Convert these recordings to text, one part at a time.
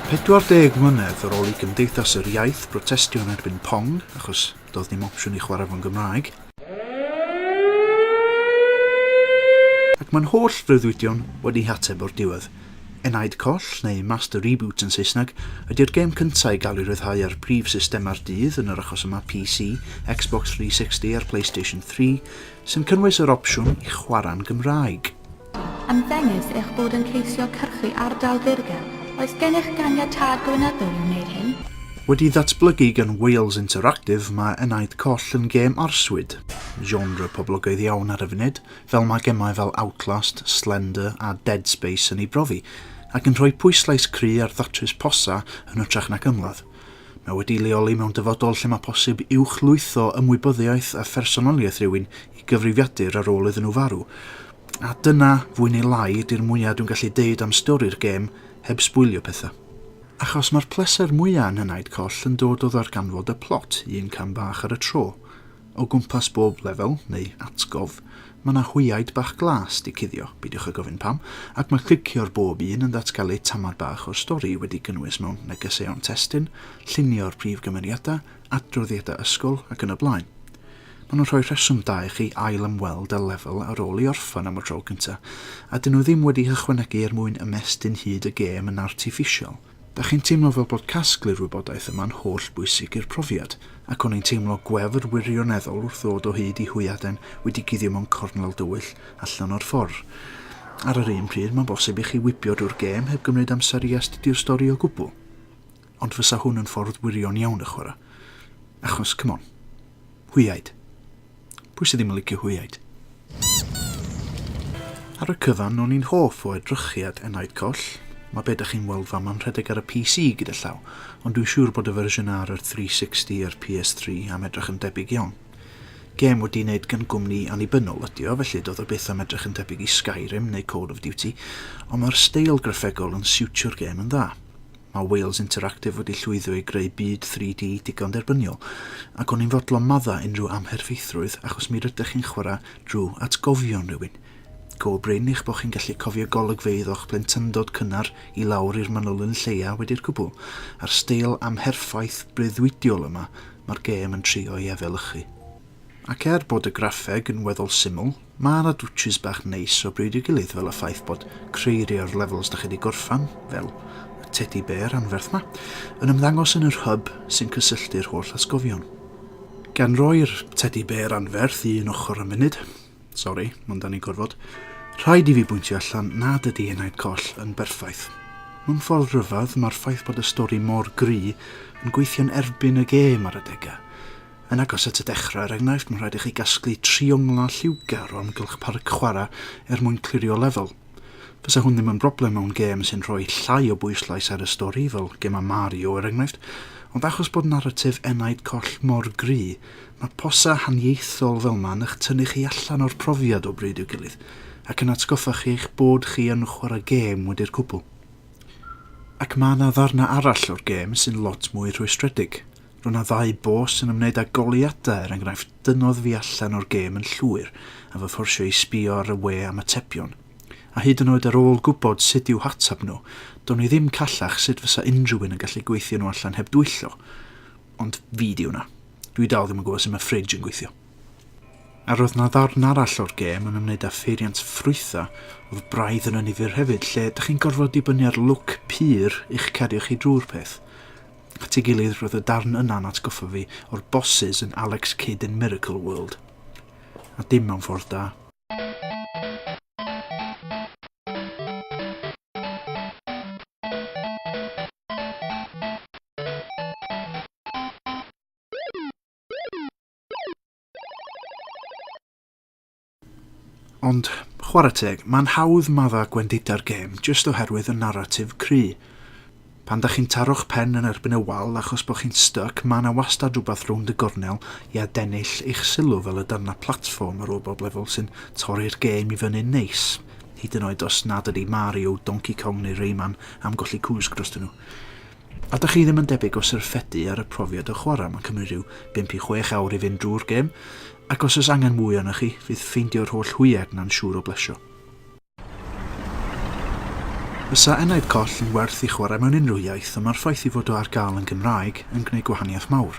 40 mlynedd ar ôl i Gymdeithas yr Iaith brotestio yn erbyn Pong, achos doedd dim opsiwn i chwarae fo'n Gymraeg, ac mae'n holl freuddwydion wedi hateb o'r diwedd. Enaid Coll, neu Master Reboot yn Saesneg, ydy'r gêm cyntaf i gael ei ryddhau ar brif systemau'r dydd, yn yr achos yma PC, Xbox 360 a'r Playstation 3, sy'n cynnwys yr opsiwn i chwarae'n Gymraeg. Ymddengys eich bod yn ceisio cyrchu ardal ddirgel, oes gennych ganiatâd gweinyddol i wneud hyn? Wedi ddatblygu gan Wales Interactive, mae Enaid Coll yn gêm arswyd, genre poblogaidd iawn ar y funud, fel mae gemau fel Outlast, Slender a Dead Space yn ei brofi, ac yn rhoi pwyslais cry ar ddatrys posa yn hytrach nac ymladd. Mae wedi'i leoli mewn dyfodol lle mae posib uwchlwytho ymwybyddiaeth a phersonoliaeth rhywun i gyfrifiadur ar ôl iddyn nhw farw. A dyna, fwy neu lai, ydy'r mwya' dwi'n gallu deud am stori'r gêm, heb sbwylio pethau. Achos mae'r pleser mwya' yn Henaid Coll yn dod o ddarganfod y plot, un cam bach ar y tro. O gwmpas bob lefel, neu atgof, mae 'na hwyaid bach glas 'di cuddio, beidiwch â gofyn pam, ac mae clicio ar bob un yn datgelu tamad bach o'r stori wedi gynnwys mewn negeseuon testun, llunio'r prif gymeriadau, adroddiadau ysgol ac yn y blaen. Maen nhw'n rhoi rheswm da i chi ail ymweld â lefel ar ôl i orffen am y tro cyntaf, a dyn nhw ddim wedi hychwanegu er mwyn ymestyn hyd y gêm yn artiffisial. Dach chi'n teimlo fel bod casglu'r wybodaeth yma'n holl bwysig i'r profiad, ac o'n i'n teimlo gwefr wirioneddol wrth ddod o hyd i hwyaden wedi guddio mewn cornel dywyll allan o'r ffordd. Ar yr un pryd, mae'n bosib i chi wibio drwy'r gêm heb gymryd amser i astudio'r stori o gwbl. Ond fysa hwn yn ffordd wirion iawn y chwarae. Achos, come on. Hwyaid. Pwy sydd ddim yn licio hwyaid? Ar y cyfan, o'n i'n hoff o edrychiad Enaid Coll. Mae be da chi'n weld fama'n rhedeg ar y PC gyda llaw, ond dwi'n siŵr bod y fersiwn ar yr 360 a'r PS3 am edrych yn debyg iawn. Gêm wedi wneud gan gwmni annibynnol ydi o, felly doedd o byth am edrych yn debyg i Skyrim neu Call of Duty, ond mae'r steil graffegol yn siwtio'r gêm yn dda. Mae Wales Interactive wedi llwyddo i greu byd 3D digon derbyniol, ac o'n i'n fodlon maddau unrhyw amherfeithrwydd achos mi rydych chi'n chwarae drwy atgofion rhywun. Go brin eich bod chi'n gallu cofio golygfeydd o'ch plentyndod cynnar i lawr i'r manylyn lleia wedi'r cwbl, a'r steil amherffaith breuddwydiol yma mae'r gêm yn trio ei efelychu. Ac er bod y graffeg yn weddol syml, Mae 'na dwtshys bach neis o bryd i'w gilydd fel y ffaith bod creirio'r levels dach chi 'di gorffan, fel y tedi bêr anferth 'ma, yn ymddangos yn yr hub sy'n cysylltu'r holl atgofion. Gan roi'r tedi bêr anferth i un ochr am funud, sori, mond da ni'n gorfod, rhaid i fi bwyntio allan nad ydi Enaid Coll yn berffaith. Mewn ffordd rhyfedd, mae'r ffaith bod y stori mor gry yn gweithio'n erbyn y gêm ar adegau. Yn agos at y dechrau, er enghraifft, mae'n rhaid i chi gasglu tri onglau lliwgar o amgylch parc chwarae er mwyn clirio lefel. Fysa hwn ddim yn broblem mewn gêm sy'n rhoi llai o bwyslais ar y stori, fel gemau Mario er enghraifft, ond achos bod naratif Enaid Coll mor gry, mae posau haniaethol fel ma yn'ch tynnu chi allan o'r profiad o bryd i'w gilydd, ac yn atgoffa chi eich bod chi yn chwarae gêm wedi'r cwbl. Ac mae 'na ddarnau arall o'r gêm sy'n lot mwy rhwystredig. Roedd yna ddau bos yn ymwneud â goleuadau, er enghraifft, dynnodd fi allan o'r gêm yn llwyr a fy fforsio i sbïo ar y we am atebion. A hyd yn oed ar ôl gwybod sut i'w hateb nhw, do'n i ddim callach sut fysa unrhyw un yn gallu gweithio nhw allan heb dwyllo. Ond fi 'di hwnna. Dwi dal ddim yn gwybod sut mae fridge yn gweithio. A roedd yna ddarn arall o'r gêm yn ymwneud â pheiriant ffrwythau, oedd braidd yn annifyr hefyd, lle 'da chi'n gorfod dibynnu ar lwc pur i'ch cario chi drwy'r peth. at ei gilydd roedd y darn yna'n atgoffa fi o'r bosses yn Alex Kidd in Miracle World. A dim mewn ffordd da. Ond, chwarae teg, mae'n hawdd maddau gwendida'r gêm jyst oherwydd y naratif cry. Pan da chi'n taro'ch pen yn erbyn y wal achos bod chi'n styc, mae yna wastad rhywbeth rownd y gornel i adennill eich sylw fel y darnau platfform ar ôl bob lefel sy'n torri'r gêm i fyny'n neis, hyd yn oed os nad ydy Mario, Donkey Kong neu Rayman am golli cwsg drostyn nhw. A dach chi ddim yn debyg o syrffedu ar y profiad o chwarae, mae'n cymryd rhyw 5 i 6 awr i fynd drwy'r gêm, ac os oes angen mwy arnoch chi, fydd ffeindio'r holl hwyed 'na'n siŵr o blesio. Fysa enaid coll yn werth i chwarae mewn unrhyw iaith, ond mae'r ffaith ei fod o ar gael yn Gymraeg yn gwneud gwahaniaeth mawr.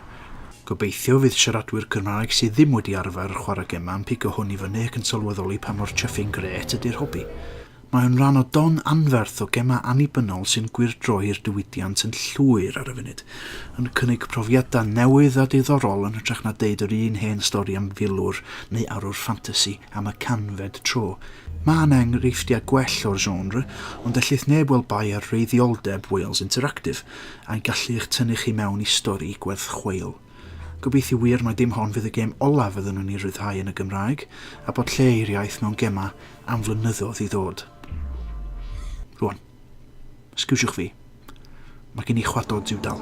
Gobeithio fydd siaradwyr Cymraeg sydd ddim wedi arfer chwarae gemau yn pigo hwn i fyny ac yn sylweddoli pa mor chuffing grêt ydy'r hobi. Mae o'n rhan o don anferth o gemau annibynnol sy'n gwyrdroi'r diwydiant yn llwyr ar y funud, yn cynnig profiadau newydd a diddorol yn hytrach na deud yr un hen stori am filwr neu arwr ffantasi am y canfed tro. Mae yna enghreifftiau gwell o'r genre, ond ellith neb weld bai ar wreiddioldeb Wales Interactive, a'i gallu i'ch tynnu chi mewn i stori gwerth chweil. Gobeithio wir mai dim hon fydd y gêm olaf fydden nhw'n ei ryddhau yn y Gymraeg, a bod lle i'r iaith mewn gemau am flynyddoedd i ddod. Rwan. Sgwsiwch fi. Mae gen i chwadod diwdal.